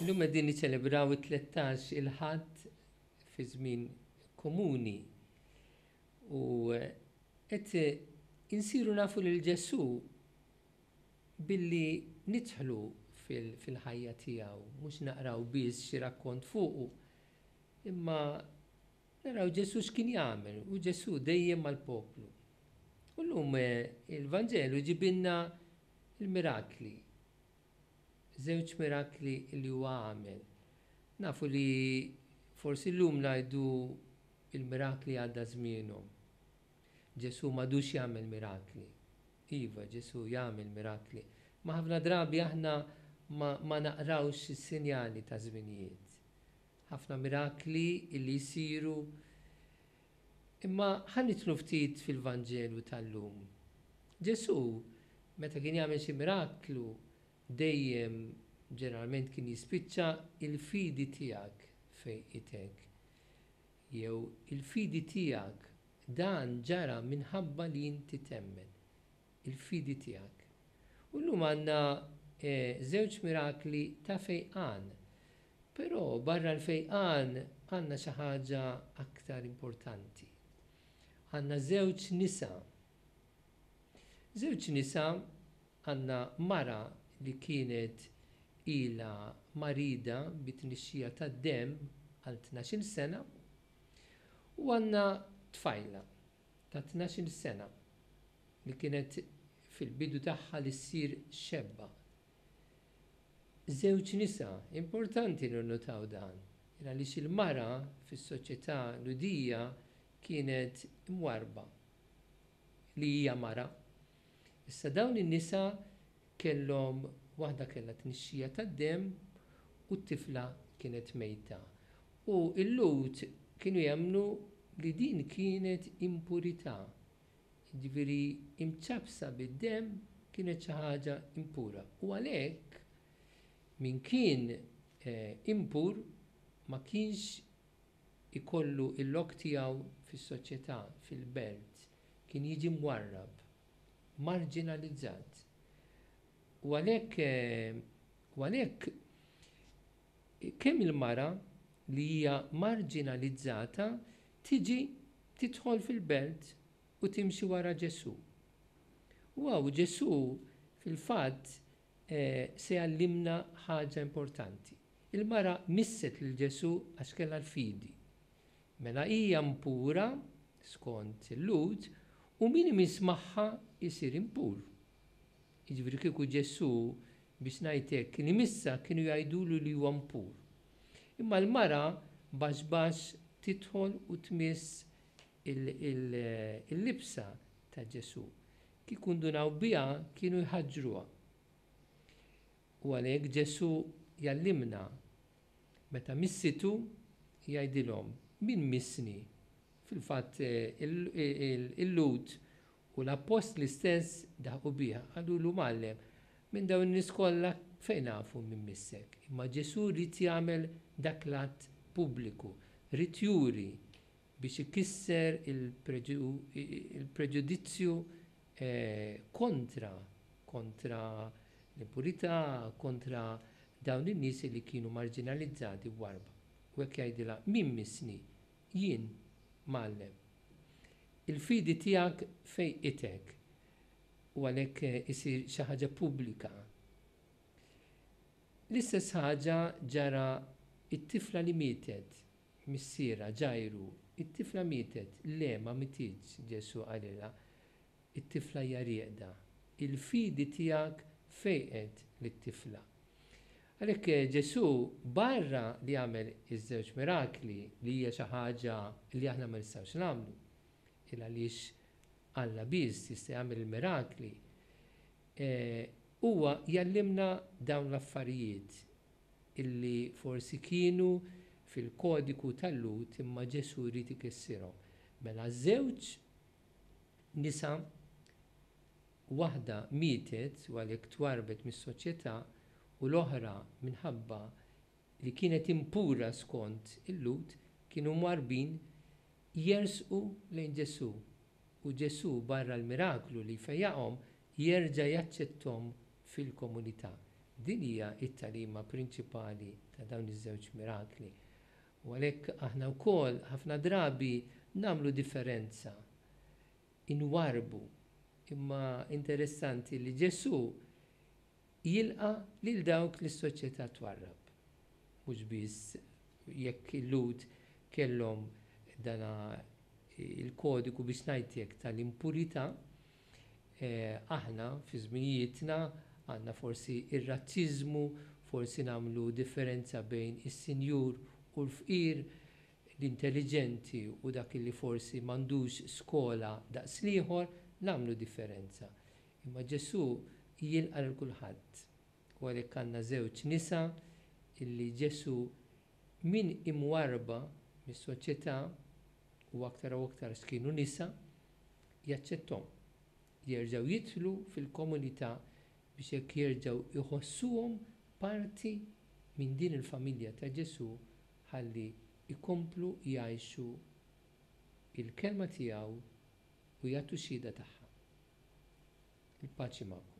Illum qegħdin niċċelebraw it-tlettax il-Ħadd fi żmien komuni u qed insiru nafu lil Ġesù billi nidħlu fil-ħajja tiegħu, mhux naqraw biss xi rakkont fuqu, imma Naraw Ġesù x'kien jagħmel, u Ġesù dejjem mal-poplu. U llum il-Vanġelu jġibilna l-mirakli, żewġ mirakli li huwa għamel. Nafu li forsi llum ngħidu l-mirakli għadda żmienhom. Ġesù m'għadux jagħmel mirakli. Iva, Ġesù jagħmel mirakli. Imma ħafna drabi aħna ma naqrawx is-sinjali taż-żminijiet. Ħafna mirakli li jsiru. Imma ħa nidħlu ftit fil-Vanġelu tal-lum. Ġesù meta kien jagħmel xi miraklu dejjem ġeneralment kien jispiċċa il-fidi tiegħek fejqitek. Jew il-fidi tiegħek dan ġara minħabba li inti temmen. il-fidi tiegħek. U llum għandna żewġ mirakli ta' fejqan. Però barra l-fejqan għandna xi ħaġa aktar importanti. Għandna żewġ nisa. Żewġ nisa, għandna mara li kienet ilha marida bi tnixxija tad-demm għal tnax-il sena u għandna tfajla ta' tnax-il sena. li kienet fil-bidu tagħha li ssir xebba. Żewġ nisa, importanti li nnutaw dan, għaliex il-mara fis-soċjetà Lhudija kienet imwarrba li hija mara. Issa dawn in-nisa kellhom, waħda kellha tnixxija tad-demm u t-tifla kienet mejta. U l-Lhud kienu jemmnu li din kienet impurità, jiġifieri imċappsa bid-demm, kienet xi ħaġa impura. U għalhekk min kien impur ma kienx ikollu l-lok tiegħu fis-soċjetà, fil-belt, kien jiġi mwarrab, marġinalizzat. U għalhekk, u għalhekk, Kemm il-mara li hija marġinalizzata tiġi tidħol fil-belt u timxi wara Ġesù. U hawn Ġesù fil-fatt se jgħallimna ħaġa importanti. Il-mara misset lil Ġesù għax kellha l-fidi. Mela hija mpura skont il-Lhud u min imiss magħha jsir impur. Jiġifieri kieku Ġesù, biex ngħid hekk, kien imissha kienu jgħidulu li huwa mpur. Imma l-mara baxx baxx tidħol u tmiss il-libsa ta' Ġesù. Kieku ndunaw biha kienu jħaġġruha. U għalhekk Ġesù jgħallimna, meta missietu jgħidilhom, min missni? Fil-fatt il-Lhud U l-appostli stess daħqu biha, qalulu, Mgħallem, minn dawn in-nies kollha fejn nafu min missek? Imma Ġesù ried jagħmel dak l-att pubbliku, ried juri biex ikisser il-preġudizzju kontra kontra l-impurità, kontra dawn in-nies li kienu marġinalizzati b'warba. U hekk jgħidilha, Min missni? Jien, Mgħallem, il-fidi tiegħek fejqitek, u għalhekk isir xi ħaġa pubblika. L-istess ħaġa ġara t-tifla li mietet, missierha, Ġajru, it-tifla mietet, le, ma mietietx, Ġesù qalilha, it-tifla hija rieqda, il-fidi tiegħek fejqet lit-tifla. Għalhekk Ġesù barra li għamel iż-żewġ mirakli li hija xi ħaġa li aħna ma nistgħux nagħmlu, il-għaliex Alla biss jista' jagħmel il-mirakli, huwa jgħallimna dawn l-affarijiet illi forsi kienu fil-kodiku tal-Lhud imma Ġesù jrid ikissirhom. Mela żewġ nisa Waħda mietet u għalhekk twarrbet mis-soċjetà u l-oħra minħabba li kienet impura skont il-Lhud kienu mwarrbin jersqu lejn Ġesù u Ġesù barra l-miraklu li jfejjaqhom jerġa' jaċċetthom fil-komunità. Din hija t-tagħlima prinċipali ta' dawn iż-żewġ mirakli. U għalhekk aħna wkoll ħafna drabi nagħmlu differenza inwarrbu. Imma interessanti li Ġesù jilqa' lil dawk li s-soċjetà twarrab. Mhux biss jekk il-Lhud kellhom dan il-kodiku biex ngħidlek tal-impurità, aħna fi żminijietna għandna forsi r-razziżmu, forsi nagħmlu differenza bejn is-sinjur u l-fqir, l-intelliġenti u dak li forsi m'għandux skola daqs l-ieħor, nagħmlu differenza. Imma Ġesù jilqa' lil kulħadd. U għalhekk għandna żewġ nisa li Ġesù, minn imwarrba mis-soċjetà, u aktar u aktar x'kienu nisa, jaċċetthom. Jerġgħu jidħlu fil-komunità biex hekk jerġgħu jħossuhom parti minn din il-familja ta' Ġesù ħalli jkomplu jgħixu l-kelma tiegħu u jagħtu xhieda tagħha. Il-paċi magħkom.